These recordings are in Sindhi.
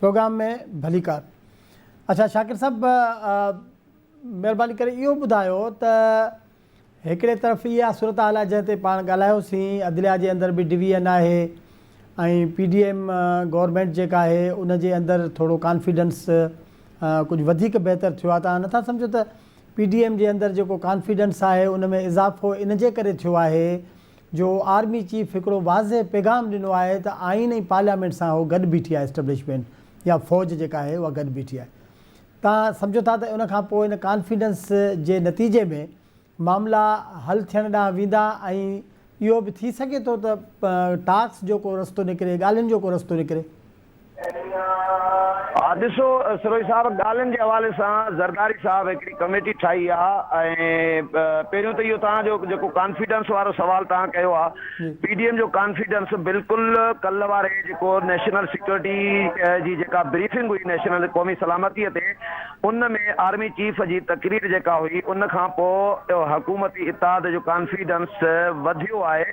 پروگرام ۾ ڀليڪار اڇا شاڪر صاحب مھرباني ڪري اھو ٻڌايو ته هڪڙي طرف اها صورتحال آهي جنهن تي پاڻ ڳالهايو سين عدليا جي اندر به ڊويزن آهي ۽ پي ڊي ايم گورنمينٽ جيڪا آهي ان جي اندر ٿورو ڪانفيڊنس ڪجهه وڌيڪ بهتر ٿيو آهي توهان نٿا سمجهو ته پي ڊي ايم جي اندر جيڪو ڪانفيڊنس آهي ان ۾ اضافو ان جي ڪري ٿيو آهي جو آرمي چيف هڪڙو واضح پيغام ڏنو آهي ته آئين ۽ پارليامينٽ سان هو گڏ بيٺي آهي اسٽبلشمينٽ يا فوج جيڪا آهي اها گڏ بيٺي آهي توهان سمجهو ٿا ته ان کان پوء ان ڪانفيڊنس جي نتيجي ۾ معاملا حل ٿيڻ ڏانهن ويندا ۽ اهو به ٿي سگهي ٿو ته ٽاڪس جو ڪو رستو نڪري، ڳالهين جو ڪو رستو نڪري. ها ڏسو سروهي صاحب ڳالهين جي حوالي سان زرداري صاحب هڪڙي ڪميٽي ٺاهي آهي ۽ پهريون ته اهو توهان جو جيڪو ڪانفيڊنس وارو سوال توهان ڪيو آهي، پي ڊي ايم جو ڪانفيڊنس بلڪل ڪلهه واري جيڪو نيشنل سيڪيورٽي جي جيڪا بريفنگ هئي نيشنل قومي سلامتي تي ان ۾ آرمي چيف جي تقرير جيڪا هئي ان کان پو حڪومتي اتحاد جو ڪانفيڊنس وڌيو آهي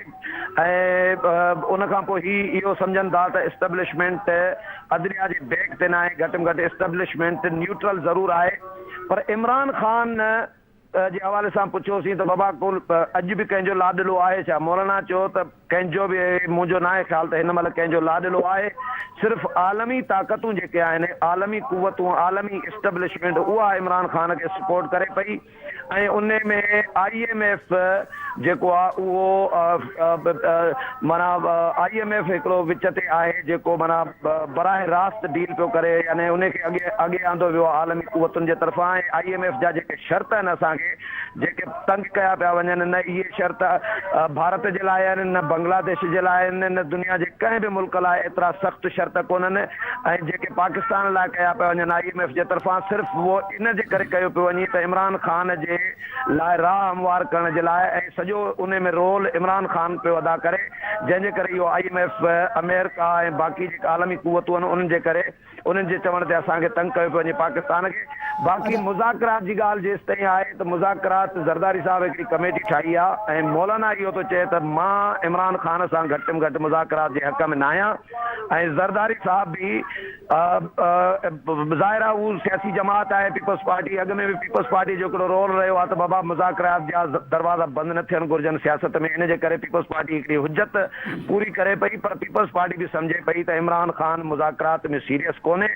۽ ان کان پو هي اهو سمجهن ٿا ته اسٽبلشمينٽ عدليا جي بيڪ تي ناهي گهٽ م گهٽ اسٽبلشمينٽ نيوٽرل ضرور آهي پر عمران خان ته جي حوالي سان پڇيوسين ته بابا ڪو اڄ به ڪنهن جو لاڏلو آهي ڇا؟ مولانا چيو ته ڪنهن جو به مون جو ناهي خيال ته هن مهل ڪنهن جو لاڏلو آهي، صرف عالمي طاقتون جيڪي آهن، عالمي قوتون، عالمي اسٽبلشمينٽ اها عمران خان کي سپورٽ ڪري پئي ۽ ان ۾ آء ايم ايف جيڪو آهي اهو معنيٰ آء ايم ايف هڪڙو وچ تي آهي جيڪو معنيٰ براه راست ڊيل پيو ڪري يعني انهي کي اڳي اڳي آندو ويو آهي عالمي قوتن جي طرفان ۽ آئي ايم ايف جا جيڪي شرط آهن اسان کي جيڪي تنگ ڪيا پيا وڃن نه اهي شرط ڀارت جي لاء آهن نه بنگلاديش جي لاء آهن نه دنيا جي ڪنهن به ملڪ لاء ايترا سخت شرط ڪونهن ۽ جيڪي پاڪستان لاء ڪيا پيا وڃن آئي ايم ايف جي طرفان صرف اهو ان جي ڪري ڪيو پيو وڃي ته عمران خان جي لاء راهه هموار ڪرڻ جي لاء ۽ سڄو انهي ۾ رول عمران خان پيو ادا ڪري جنهن جي ڪري اهو آء ايم ايف اميرڪا ۽ باقي جيڪي عالمي قوتون آهن انهن جي ڪري انهن جي چوڻ تي اسان کي تنگ ڪيو پيو وڃي پاڪستان کي باقي مذاڪرات جي ڳالهه جيستائين آهي ته مذاڪرات زرداري صاحب هڪڙي ڪميٽي ٺاهي آهي ۽ مولانا اهو ٿو چئي ته مان عمران خان سان گهٽ م گهٽ مذاڪرات جي حق ۾ ناهيان ۽ زرداري صاحب به ظاهر آهي هو سياسي جماعت آهي پيپلز پارٽي، اڳ ۾ به پيپلز پارٽي جو هڪڙو رول رهيو آهي ته بابا مذاڪرات جا دروازا بند نه ٿيڻ گهرجن سياست ۾ ان جي ڪري پيپلز پارٽي هڪڙي حجت پوري ڪري پئي پر پيپلز پارٽي به سمجهي پئي ته عمران خان مذاڪرات ۾ سيريس ڪونهي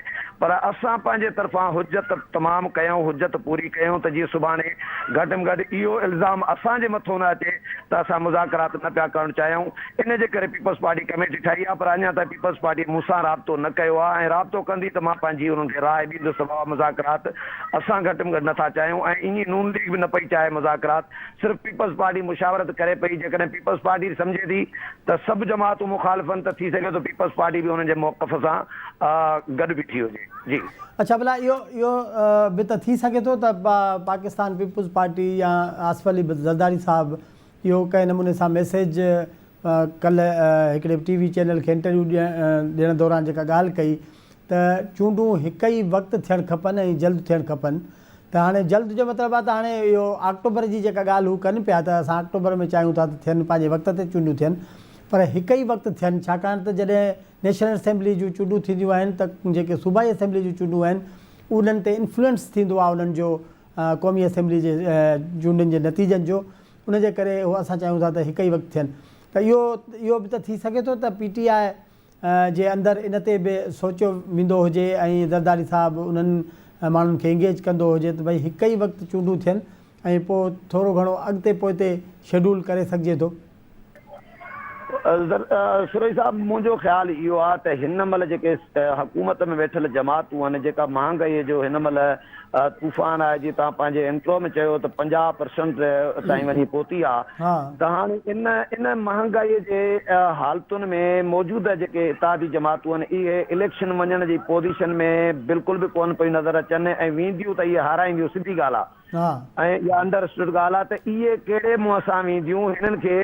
پر اسان پنهنجي طرفان حجت تمام ڪيائون حجت پوري ڪيائون ته جيئن سڀاڻي گهٽ م گهٽ اهو الزام اسان جي مٿو نه اچي ته اسان مذاڪرات نه پيا ڪرڻ چاهيون ان جي ڪري پيپلز پارٽي ڪميٽي ٺاهي آهي پر اڃا تائين پيپلز پارٽيء مون سان رابطو نه ڪيو آهي ۽ رابطو ڪندي ته مان پنهنجي انهن کي راء ڏيندس بابت مذاڪرات اسان گهٽ ۾ گهٽ نٿا چاهيون ۽ ايئن نون ليگ به نه پئي چاهي مذاڪرات صرف پيپلز پارٽي مشاورت ڪري پئي جيڪڏهن پيپلز پارٽي سمجهي ٿي ته سڀ جماعتون مخالفن ته ٿي سگهي ٿو پيپلز پارٽي به انهن جي موقف سان گڏ بيٺي هجي جي. اڇا ڀلا اهو اهو به ته ٿي سگهي ٿو ته پاڪستان پيپلز پارٽي يا آصف علي زرداري صاحب اهو ڪنهن نموني سان ميسيج ڪلهه هڪڙي ٽي وي چينل کي انٽرويو ڏيڻ دوران جيڪا ڳالهه ڪئي ته چونڊون هڪ ئي وقت ٿيڻ کپن ۽ جلد ٿيڻ کپن ته هاڻي جلد جو مطلب آهي ته هاڻي اهو آڪٽوبر جي جيڪا ڳالهه هو ڪن پيا ته اسان آڪٽوبر ۾ چاهيون ٿا ته ٿين پنهنجي وقت تي چونڊون ٿين پر هڪ ئي وقت ٿين ڇاڪاڻ ته جڏهن نيشنل اسيمبلي جون چونڊون ٿينديون آهن ته جيڪي صوبائي اسيمبلي جون چونڊون آهن انهن تي انفلوئنس ٿيندو آهي انهن جو قومي اسيمبلي جي چونڊن جي نتيجن جو، ان جي ڪري اهو اسان چاهيون ٿا ته هڪ ئي وقت ٿين ته اهو اهو به ته ٿي سگهي ٿو ته پي ٽي آء جي اندر ان تي به سوچيو ويندو هجي ۽ زرداري صاحب انهن ماڻهن کي انگيج ڪندو هجي ته ڀئي هڪ ئي وقت چونڊون ٿين ۽ پوء ٿورو گهڻو اڳتي پوئتي شيڊول ڪري سگهجي ٿو. سورهي صاحب منهنجو خيال اهو آ ته هن مهل جيڪي حڪومت ۾ ويٺل جماعتون آهن جيڪا مهانگائي جو هن مهل طوفان آهي جي توهان پنهنجي انٽرو ۾ چيو ته پنجاهه پرسنٽ تائين وڃي پهتي آ ته هاڻي ان ان مهانگائي جي حالتن ۾ موجوده جيڪي اتحادي جماعتون آهن اهي اليڪشن وڃڻ جي پوزيشن ۾ بلڪل به ڪون پيون نظر اچن ۽ وينديون ته اهي هارائينديون سڌي ڳالهه آ ها. ۽ اها انڊر اسٽوڊ ڳالهه آهي ته اهي ڪهڙي منهن سان وينديون، هنن کي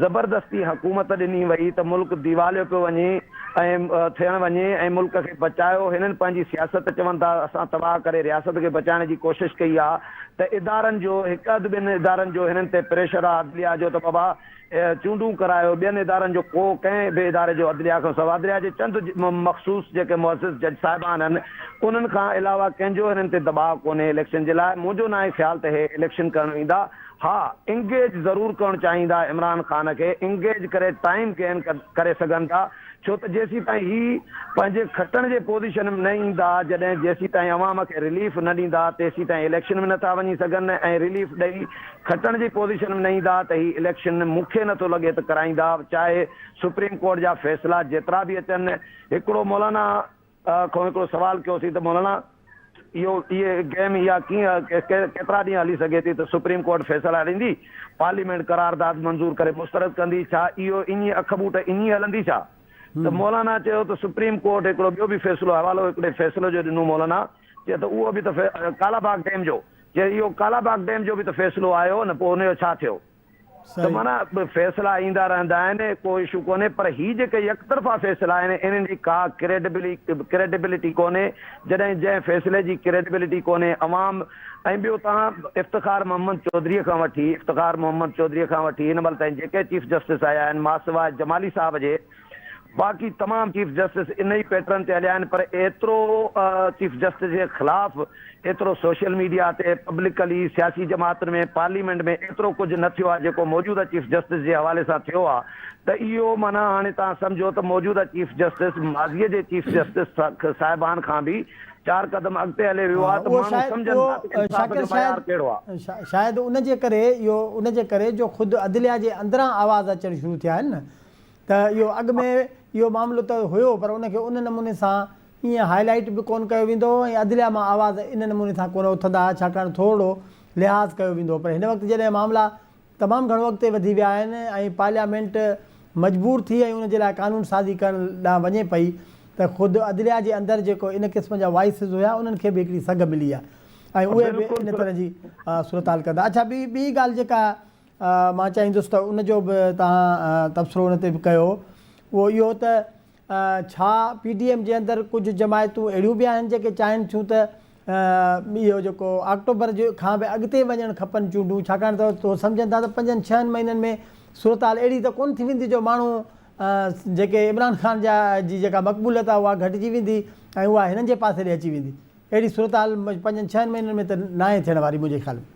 زبردستي حڪومت ڏني وئي ته ملڪ ديواليو پيو وڃي ۽ ٿيڻ وڃي ۽ ملڪ کي بچايو، هنن پنهنجي سياست چون ٿا اسان تباهه ڪري رياست کي بچائڻ جي ڪوشش ڪئي آهي ته ادارن جو هڪ اڌ ٻن ادارن جو هنن تي پريشر آهي عدليا جو ته بابا اهي چونڊون ڪرايو ٻين ادارن جو ڪو ڪنهن به اداري جو عدليا کان سوا عدليا جي چند مخصوص جيڪي معزز جج صاحبان هن انهن کان علاوه ڪنهن جو هنن تي دٻاء ڪونهي اليڪشن جي لاء منهنجو ناهي خيال ته هي اليڪشن ڪرڻ ايندا ها انگيج ضرور ڪرڻ چاهيندا عمران خان کي انگيج ڪري ٽائيم گين ڪري سگهن ٿا ڇو ته جيسيتائين هي پنهنجي کٽڻ جي پوزيشن ۾ نه ايندا جڏهن جيسيتائين عوام کي رليف نه ڏيندا تيسيتائين اليڪشن ۾ نٿا وڃي سگهن ۽ رليف ڏئي کٽڻ جي پوزيشن ۾ نه ايندا ته هي اليڪشن مون کي نٿو لڳي ته ڪرائيندا چاهي سپريم ڪورٽ جا فيصلا جيترا به اچن هڪڙو مولانا کون هڪڙو سوال ڪيوسين ته مولانا اهو اهي گيم اها ڪيئن ڪيترا ڏينهن هلي سگهي ٿي ته سپريم ڪورٽ فيصلا ڏيندي پارليامينٽ قرارداد منظور ڪري مسترد ڪندي ڇا اهو ايئن اک ٻوٽ ايئن ئي هلندي ڇا ته مولانا چيو ته سپريم ڪورٽ هڪڙو ٻيو به فيصلو حوالو هڪڙي فيصلي جو ڏنو مولانا چيو ته اهو به ته ڪالا باغ ڊيم جو چيو اهو ڪالا باغ ڊيم جو به ته فيصلو آيو نه پوء ان جو ڇا ٿيو. ته معنيٰ فيصلا ايندا رهندا آهن ڪو اشو ڪونهي پر هي جيڪي يڪ طرفا فيصلا آهن انهن جي ڪا ڪريڊبلٽي ڪونهي جڏهن جنهن فيصلي جي ڪريڊبلٽي ڪونهي عوام ۽ ٻيو توهان افتخار محمد چوڌري کان وٺي افتخار محمد چوڌري کان وٺي هن مهل تائين جيڪي چيف جسٽس آيا آهن ماسواء جمالي صاحب جي باقي تمام چيف جسٽس ان ئي پيٽرن تي هليا آهن پر ايترو چيف جسٽس جي خلاف ايترو سوشل ميڊيا تي پبلڪلي سياسي جماعتن ۾ پارليمينٽ ۾ ايترو ڪجهه نه ٿيو آهي جيڪو موجوده چيف جسٽس جي حوالي سان ٿيو آهي ته اهو معنيٰ هاڻي توهان سمجهو ته موجوده چيف جسٽس ماضي جي چيف جسٽس صاحبان کان به چار قدم اڳتي هلي ويو آهي ته ماڻهو سمجهن ٿا ته انصاف جو معيار ڪهڙو آهي. شايد ان جي ڪري اهو ان جي ڪري جو خود عدليا جي اندران آواز اچڻ شروع ٿيا آهن نه ته اهو اڳ ۾ اهو معاملو ته هيو پر ان کي ان نموني سان ائين هاء لائيٽ به ڪون ڪيو ويندو هو ۽ عدليا مان آواز ان نموني سان ڪون اٿندا ها ڇاڪاڻ ٿورڙو لحاظ ڪيو ويندو هو پر هن وقت جڏهن معاملا تمام گهڻو اڳتي وڌي ويا آهن ۽ پارليامينٽ مجبور ٿي ۽ ان جي لاء قانون سازي ڪرڻ ڏانهن وڃي پئي ته خود عدليا جي اندر جيڪو ان قسم جا وائسز هيا انهن کي به هڪڙي سگهه ملي آهي ۽ اهي به ان طرح جي صورتحال ڪندا اڇا ٻي ٻي ڳالهه جيڪا مان چاهيندس ته ان جو به توهان تبصرو ان تي به ڪيو اهو اهو ته ڇا پي ڊي ايم جي اندر ڪجهه جماعتون اهڙيون به آهن جيڪي چاهين ٿيون ته اهو جيڪو آڪٽوبر کان به اڳتي وڃڻ کپن چونڊون ڇاڪاڻ ته هو سمجهن ٿا ته پنجن ڇهن مهينن ۾ صورتحال اهڙي ته ڪونه ٿي ويندي جو ماڻهو جيڪي عمران خان جا جي جيڪا مقبوليت آهي اها گهٽجي ويندي ۽ اها هنن جي پاسي ڏي اچي ويندي. اهڙي صورتحال پنجن ڇهن مهينن ۾ ته ناهي ٿيڻ واري منهنجي خيال ۾.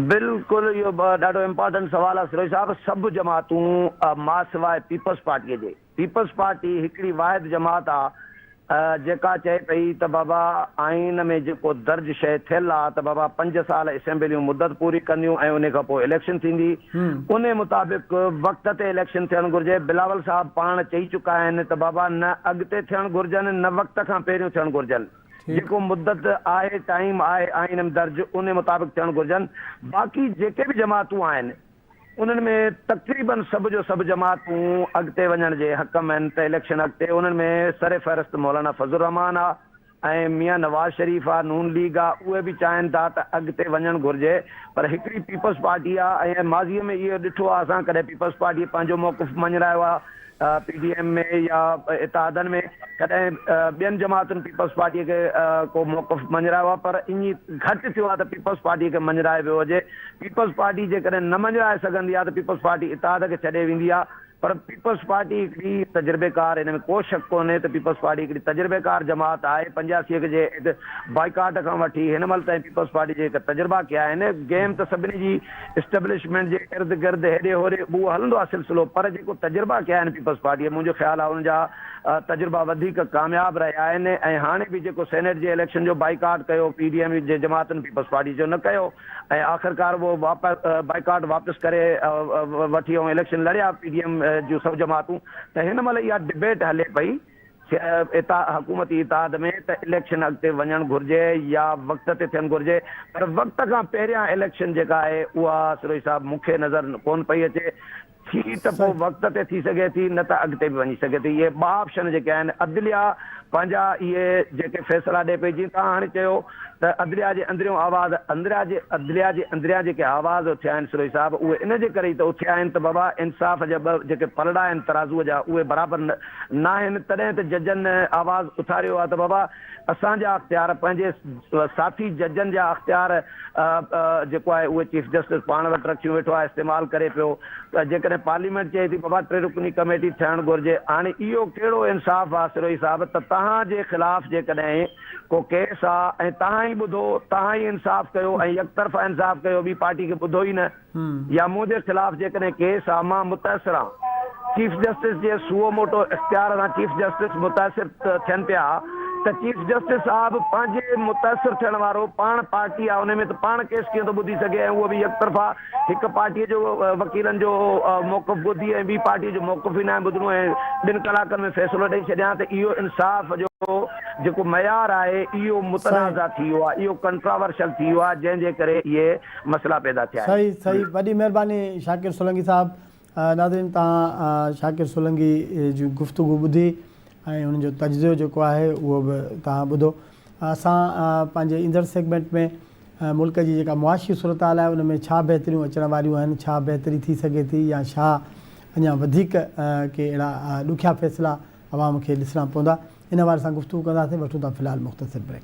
بلڪل اهو ڏاڍو امپارٽنٽ سوال آهي سروش صاحب سڀ جماعتون ماسواء پيپلز پارٽي جي پيپلز پارٽي هڪڙي واحد جماعت آ جيڪا چئي پئي ته بابا آئين ۾ جيڪو درج شئي ٿيل آ ته بابا پنج سال اسيمبليون مدت پوري ڪنديون ۽ انهي کان پوء اليڪشن ٿيندي انهي مطابق وقت تي اليڪشن ٿيڻ گهرجي، بلاول صاحب پاڻ چئي چڪا آهن ته بابا نه اڳتي ٿيڻ گهرجن نه وقت کان پهريون ٿيڻ گهرجن، جيڪو مدت آهي ٽائيم آهي آئين م درج انهي مطابق ٿيڻ گهرجن، باقي جيڪي به جماعتون آهن انهن ۾ تقريباً سڀ جو سڀ جماعتون اڳتي وڃڻ جي حق م آهن ته اليڪشن اڳتي انهن ۾ سرفهرست مولانا فضل الرحمان آ، ۽ ميان نواز شريف آ، نون ليگ آ، اهي به چاهين ٿا ته اڳتي وڃڻ گهرجي پر هڪڙي پيپلز پارٽي آ ۽ ماضي ۾ اهو ڏٺو آ اسان ڪڏهن پيپلز پارٽي پنهنجو موقف مڃرايو آ پي ڊي ايم ۾ يا اتحادن ۾ ڪڏهن ٻين جماعتن پيپلز پارٽي کي ڪو موقف مڃرايو آ پر اڃ گهٽ ٿيو آ ته پيپلز پارٽي کي مڃرائي ويو هجي پيپلز پارٽي جيڪڏهن نه مڃرائي سگهندي آ ته پيپلز پارٽي اتحاد کي ڇڏي ويندي آ پر پيپلز پارٽي هڪڙي تجربيڪار ان ۾ ڪو شڪ ڪونهي ته پيپلز پارٽي هڪڙي تجربيڪار جماعت آهي پنجاسي کي جي ايڊ بائيڪاٽ کان وٺي هن مهل تائين پيپلز پارٽي جي هڪ تجربا ڪيا آهن گيم ته سڀني جي اسٽبلشمينٽ جي ارد گرد هيڏي هوري اهو هلندو آهي سلسلو پر جيڪو تجربا ڪيا آهن پيپلز پارٽي منهنجو خيال آهي ان جا تجربا وڌيڪ ڪامياب رهيا آهن ۽ هاڻي به جيڪو سينيٽ جي اليڪشن جو بائيڪاٽ ڪيو پي ڊي ايم جي جماعتن پيپلز پارٽي جو نه ڪيو ۽ آخرڪار اهو بائيڪاٽ واپس ڪري وٺي ۽ اليڪشن لڙيا پي ڊي ايم جون سڀ جماعتون ته هن مهل اها ڊبيٽ هلي پئي حڪومتي اتحاد ۾ ته اليڪشن اڳتي وڃڻ گهرجي يا وقت تي ٿيڻ گهرجي پر وقت کان پهريان اليڪشن جيڪا آهي اها سروهي صاحب مون کي نظر ڪون پئي اچي ٿي ته پوء وقت تي ٿي سگهي ٿي نه ته اڳتي به وڃي سگهي ٿي. اهي ٻه آپشن جيڪي آهن عدليا پنهنجا اهي جيڪي فيصلا ڏئي پئي جيئن توهان هاڻي چيو ته عدليا جي اندريون آواز اندريا جي عدليا جي اندريان جيڪي آواز اٿيا آهن سروهي صاحب اهي ان جي ڪري ئي ته اٿيا آهن ته بابا انصاف جا ٻه جيڪي پلڙا آهن ترازوء جا اهي برابر نه آهن تڏهن ته ججن آواز اٿاريو آهي ته بابا اسان جا اختيار پنهنجي ساٿي ججن جا اختيار جيڪو آهي اهي چيف جسٽس پاڻ وٽ رکيون ويٺو آهي استعمال ڪري پيو ته جيڪڏهن پارليامينٽ چئي ٿي بابا ٽي رڪني ڪميٽي ٺهڻ گهرجي هاڻي اهو ڪهڙو انصاف آ سروهي صاحب ته توهان جي خلاف جيڪڏهن ڪو ڪيس آ ۽ توهان ئي ٻڌو توهان ئي انصاف ڪيو ۽ يڪطرفا انصاف ڪيو ٻي پارٽي کي ٻڌو ئي نه يا منهنجي خلاف جيڪڏهن ڪيس آ مان متاثر آهان. چيف جسٽس جي سوئو موٽو اختيار سان چيف جسٽس متاثر ٿين پيا ته چيف جسٽس صاحب پنهنجي متاثر ٿيڻ وارو پاڻ پارٽي آ انهي ۾ ته پاڻ ڪيس ڪيئن ٿو ٻڌي سگهي ۽ اهو به يڪ طرفا هڪ پارٽي جو وڪيلن جو موقف ٻڌي ۽ ٻي پارٽي جو موقف ئي ناهي ٻڌڻو ۽ ٻن ڪلاڪن ۾ فيصلو ڏئي ڇڏيان ته اهو انصاف جو جيڪو معيار آهي اهو متنازع ٿي ويو آ اهو ڪنٽراورشل ٿي ويو آ جنهن جي ڪري اهي مسئلا پيدا ٿيا آهن. صحيح صحيح وڏي مهرباني شاڪر سولنگي صاحب ناظرين توهان شاڪر سولنگي جون گفتگو ٻڌي ۽ انهن جو تجزيو جيڪو آهي اهو به توهان ٻڌو اسان پنهنجي ايندڙ سيگمينٽ ۾ ملڪ جي جيڪا معاشي صورتحال آهي ان ۾ ڇا بهتريون اچڻ واريون آهن ڇا بهتري ٿي سگهي ٿي يا ڇا اڃا وڌيڪ ڪي اهڙا ڏکيا فيصلا عوام کي ڏسڻا پوندا ان حوالي سان گفتگو ڪنداسين وٺون ٿا في الحال مختصر بريڪ.